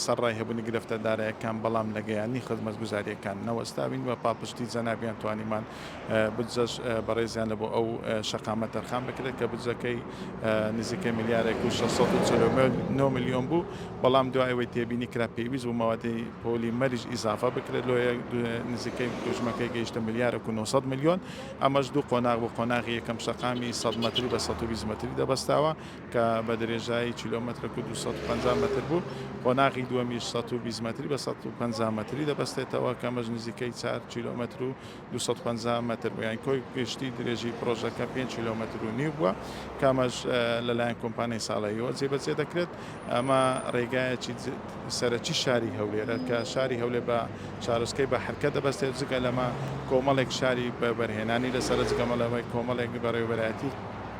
سەرڕای هەبوونی گرفتە دارایەکان بەڵام لە گەیاندنی خزمەتگوزارییەکان نەوەستاوین و پاڵپشتی جەنابیان توانیمان بودجەش بەڕێزیان لە بۆ ئەو شەقامە تەرخان بکرێت کە بودجەکەی نزیکەی ملیارێک و شەش سەد و چل و نۆ ملیۆن بوو بەڵام دوای ئەوەی تێبینی کرا پێویست بوو مەوادی پۆلی مەریش ئیزافە بکرێت لۆیە نزیکەی حوجمەکەی گەیشتە ملیارێک و نۆ سەد ملیۆن ئەمەش دوو قۆناغ بوو قۆناغی یەکەم شەقامی سەد مەتری بە سەد و بیست مەتری دەبەستاوە کە بە درێژایی کیلۆمەترێک و دوو سەد و پەنجا مەتر بوو، قۆناغی دووەمیش سەد و بیست مەتری بە سەد و پەنجا مەتری دەبەستێتەوە، کە ئەمەش نزیکەی چوار کیلۆمەتر و دوو سەد و پەنجا مەتر بوو، یانی کۆی گشتی درێژی پڕۆژەکە پێنج کیلۆمەتر و نیو بووە، کە ئەمەش لەلایەن کۆمپانیای ساڵەییەوە جێبەجێ دەکرێت، ئەمە ڕێگایەکی سەرەکی شاری هەولێرە، کە شاری هەولێر بە شارۆچکەی بەحرکە دەبەستێت، جگە لەمە کۆمەڵێک شاری بەبەرهێنانی لەسەرە، جگە لەمە کۆمەڵێک بەڕێوەبەرایەتی.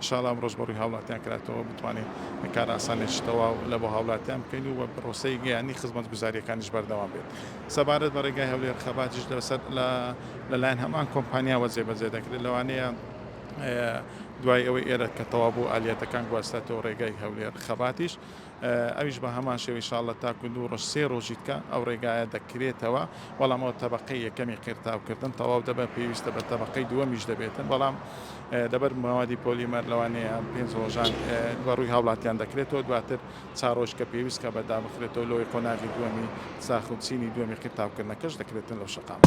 ئیشاڵا ئەم ڕۆژ بەڕووی هاوڵاتیان کراتەوە بتوانین کارئاسانێکی تەواو لە بۆ هاوڵاتیان بکەین و بە پرۆسەی یەیانی خزمەتگوزاریەکانیش بەردەوام بێت سەبارەت بە ڕێگای هەولێر خەباتیش لەسەر لە لەلایەن هەمان کۆمپانیاوە جێبەجێ دەکرێت لەوانەیە دوای ئەوەی ئێرە کە تەوا بوو ئالیەتەکان گواستێتەوە ڕێگای هەولێر خەباتیش ئەویش بە هەمان شێوە ان شاءاللە تاکو دوو ڕۆژ سێ ڕۆژیت کە ئەو ڕێگایە دەکرێتەوە بەڵام ئەوە تەبەقەی یەکەمی قیرتاو کردن تەواو دەبێت پێویستە بە تەبەقەی دووەمیش دەبێتن بەڵام لەبەر موادی پۆلیمەر لەوانەیە پێنج ڕۆژان بە ڕووی هاوڵاتیان دەکرێتەوە دواتر چا ڕۆژ کە پێویست کە بە دابخرێتەوە لەوەی قۆناغی دووەمی ساخ و چینی دووەمی قیرتاوکردنەکەش دەکرێتن لەو شەقامە